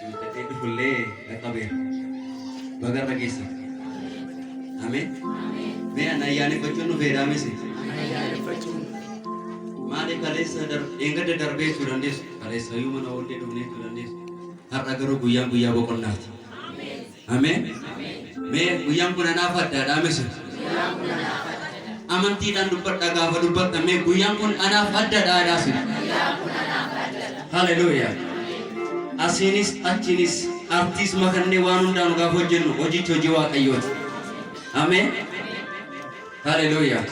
Guuttatee dhufullee dhaqqabeera. Baga irra geessan. Ameen. Mee ana ayyaaneffachuun dhufeeraa misi. Maaliif kaleessa dar- eeggadda darbee jechuu dandeessu? Kaleessa iyyuu mana oollee dhufnee jechuu dandeessu. Har'a garuu guyyaan guyyaa boqonnaati. Ameen. Mee guyyaan kun anaaf addaadhaa misi. Amantiidhaan dubbadhaa gaafa dubbattan mee guyyaan kun anaaf addadhaa jedhaa sin. Haleluuyaa. Asiinis achiinis artiis makannee waan hundaanu gaafa hojjennu hojichi hojii waaqayyooti. Ameen. Haleluuyaa.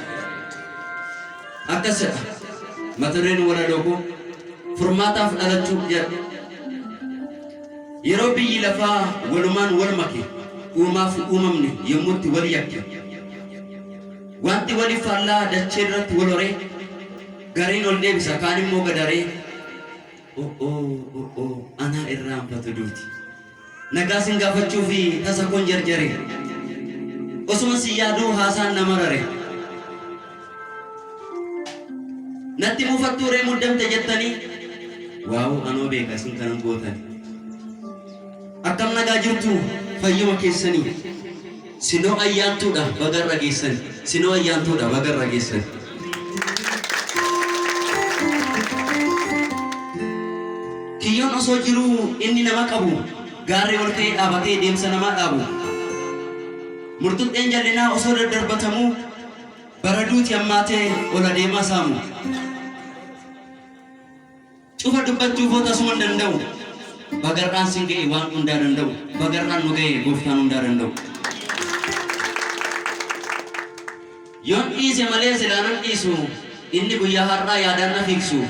Akkas jedha. Mata dureen walaloo koo furmaataaf dhalachuu jedha. Yeroo biyyi lafaa walumaan wal make, uumaa fi uumamni yommuu itti wal yakke, wanti wali faallaa dachee irratti wal horee, gariin ol deebisa, kaan immoo gad haree, o'oo, o'oo, anaa irraanfatu duuti. Nagaa sin gaafachuu fi tasa koon jarjare, osuman si yaaduu haasaan na marare. Natti mufattuu ree muddamte jettanii waawu anoo beeka isin kanan gootan akkam nagaa jirtu fayyuma keessanii sinoo ayyaantuudha baga irra geessan sinoo ayyaantuudha baga irra geessan kiyyoon osoo jiruu inni nama qabu gaarri ol ka'ee dhaabatee deemsa namaa dhaabu murtuxxeen jallinaa osoo daddarbatamuu Bara duuti hammaatee ol adeemaa saamu. Cufa dubbachuu koo tasuman danda'u. Bagarraan sin ga'e waan hundaa danda'u. Bagarraan nu ga'e gooftaan hundaa danda'u. Yoon dhiise malee silaa nan dhiisu. Inni guyyaa har'aa yaadaan na fiigsu.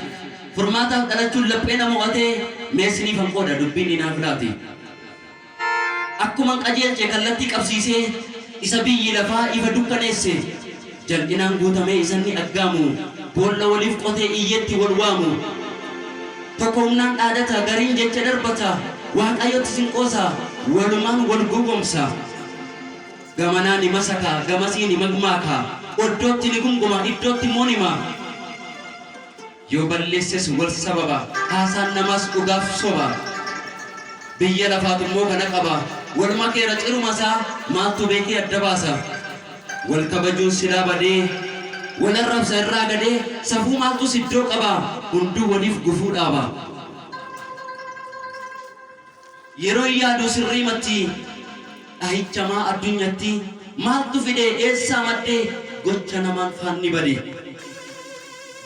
Furmaataaf dhalachuun laphee na mo'atee mee siniifan qooda dubbiin ni naaf laate. Akkuman qajeelche kallattii qabsiisee isa biyyi lafaa ifa dukkaneesse jal'inaan guutamee isanni aggaamu boolla waliif qotee iyyeetti wal waamu tokko humnaan dhaadata gariin jecha darbata Waaqayyotti sin qoosa walumaan wal gowwomsa gamanaa ni masaka gamasii ni magmaaka oddootti ni gumguma iddootti immoo ni hima Yoo balleesses wal sababa. Haasaan namaas dhugaaf soba. Biyya lafaatu immoo kana qaba. Wal makeera ciruma isaa maaltu beekee adda baasa? Wal kabajuun silaa badee wal arrabsa irraa gadee safuu maaltus iddoo qaba? Hunduu waliif gufuu dhaaba. Yeroon yaaduu sirriimatti Dhahicha maa addunyatti Maaltu fide eessaa madde Gocha namaan faanni bade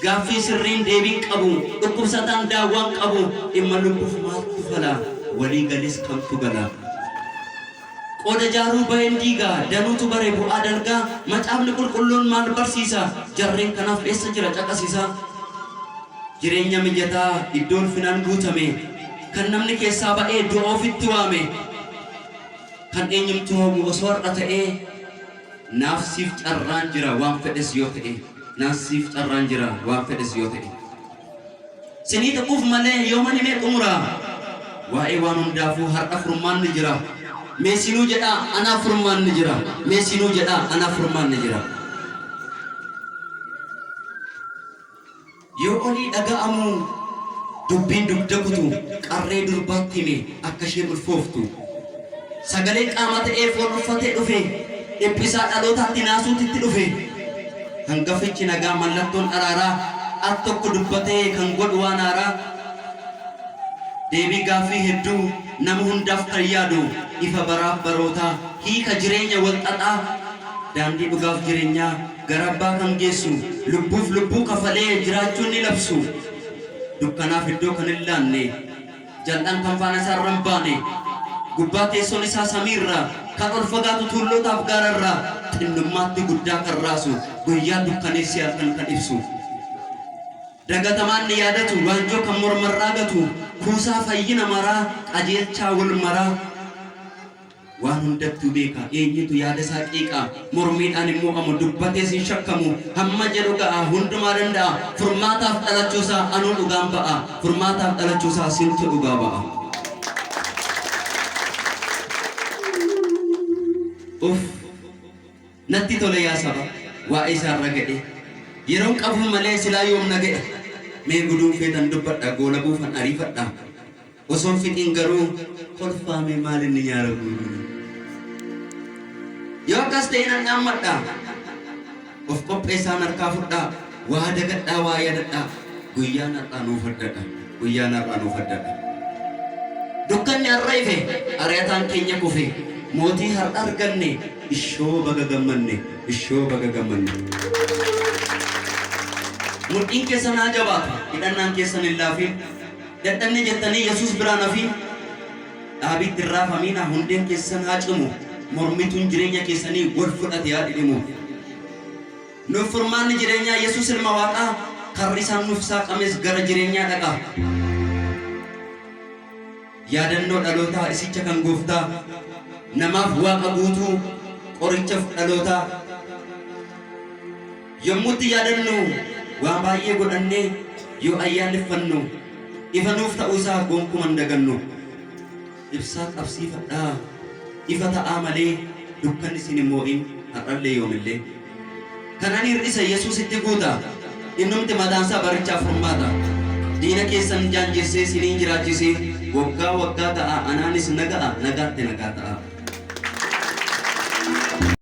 Gaaffii sirriin deebiin qabu Dhukkubsataan daawwaan qabu Dhimma lubbuuf maaltu fala Walii galis kamtu gala. Qooda jaaruu bayen diiga, danuutu bare bu'aa dalga, Macaafni Qulqulluun maal barsiisa? Jarreen kanaaf eessa jira caqasi isaa? Jireenya mijataa, iddoo ulfinaan guutame, Kan namni keessaa ba'ee du'a ofitti waame, Kan eenyumtuu hawwu osoo har'a ta'ee, Naaf siif carraan jira waan fedhes yoo ta'e, Naaf siif carraan jira waan fedhes yoo ta'e. Sinii tuquuf malee yooman himee xumura Waa'ee waan hundaafuu har'a furmaanni jira Mee sinuu jedhaa anaaf furmaanni jira Mee sinuu jedhaa anaaf furmaanni jira Yoo olii dhaga'amu dubbiin dugda kutu Qarree durbaatti hime akka isheen ulfooftu Sagaleen qaamaa ta'ee foon uffatee dhufee dhiphisaa dhalootaatti naasuutu itti dhufe. Hangafichi nagaa mallattoon araaraa al tokko dubbatee kan godhu waan haaraa deebii gaaffii hedduu nama hundaaf kan yaadu ifa baraaf barootaa hiika jireenya wal xaxaa daandii dhugaaf jirenyaa gara abbaa kan geessu lubbuuf lubbuu kafalee jiraachuun ni labsu dukkanaaf iddoo kan hin laanne. Jal'aan kan faana isaa irra hin baane, gubbaa teessoon isaa samii irra, kan ol fagaatu tuullootaa fi gaara irra, xinnummaatti guddaa kan raasu, guyyaa dukkaneessee halkan kan ibsu, dagatamaa inni yaadatu, waanjoo kan morma irraa gatu, kuusaa fayyina maraa, qajeelchaa wal maraa. Waan hundattuu beeka, eenyutu yaada isaa qeeqa? Mormiidhaan hin mo'amu, dubbatees hin shakkamu, hamma jedhu ga'a, hundumaa danda'a, furmaataaf dhalachuu isaa anuu dhugaan ba'a, furmaataaf dhalachuu isaa sintu dhugaa ba'a. Uff! Natti tole yaa saba waa'ee isaa irra ga'ee Yeroon qabuu malee silaa yoom na ga'e Mee guduun feetan dubbadha goolabuufan ariifadha Osoon fixiin garuu kolfaa mee maal inni nyaara guuruuni Yoo akkas ta'e nan dhaammadha Of qopheessaan harkaa fudhaa Waa dagadhaa waa yaadadhaa Guyyaan har'aa nuuf addadha. Guyyaan har'a nuuf addadha. Dukkanni har'a ife, ari'ataan keenya kufe, mootii har'a arganne, ishoo baga gammanne, ishoo baga gammanne. Mudhiin keessan haa jabaatu, hidhannaan keessan hin laafiin, dadhabne jettanii Yesuus biraa hin hafiin, dhaabiitti hin raafamiina, hundeen keessan haa cimu, mormituun jireenya keessanii wal fudhate haa dhidhimu. Nuuf furmaanni jireenyaa Yesuus ilma Waaqaa karri isaan nuuf saaqames gara jireenyaa dhaqa. Yaadannoo dhalootaa isicha kan gooftaa namaaf waaqa guutuu qorichaf dhalootaa yommuu itti yaadannu waa baay'ee godhannee yoo ayyaaneffannu ifa nuuf ta'uu isaa gonkuman dagannu. Ibsaa qabsiifadhaa, ifa ta'aa malee dukkanni isin hin moo'in, har'allee yoomillee. Kan ani hir'ise Yesuusitti guuta, innumti mataansaa barichaaf furmaata. Diina keessan jaanjeessee isiniin jiraachisee waggaa waggaa ga'aa anaanis naga'a nagaatti nagaa ta'aa.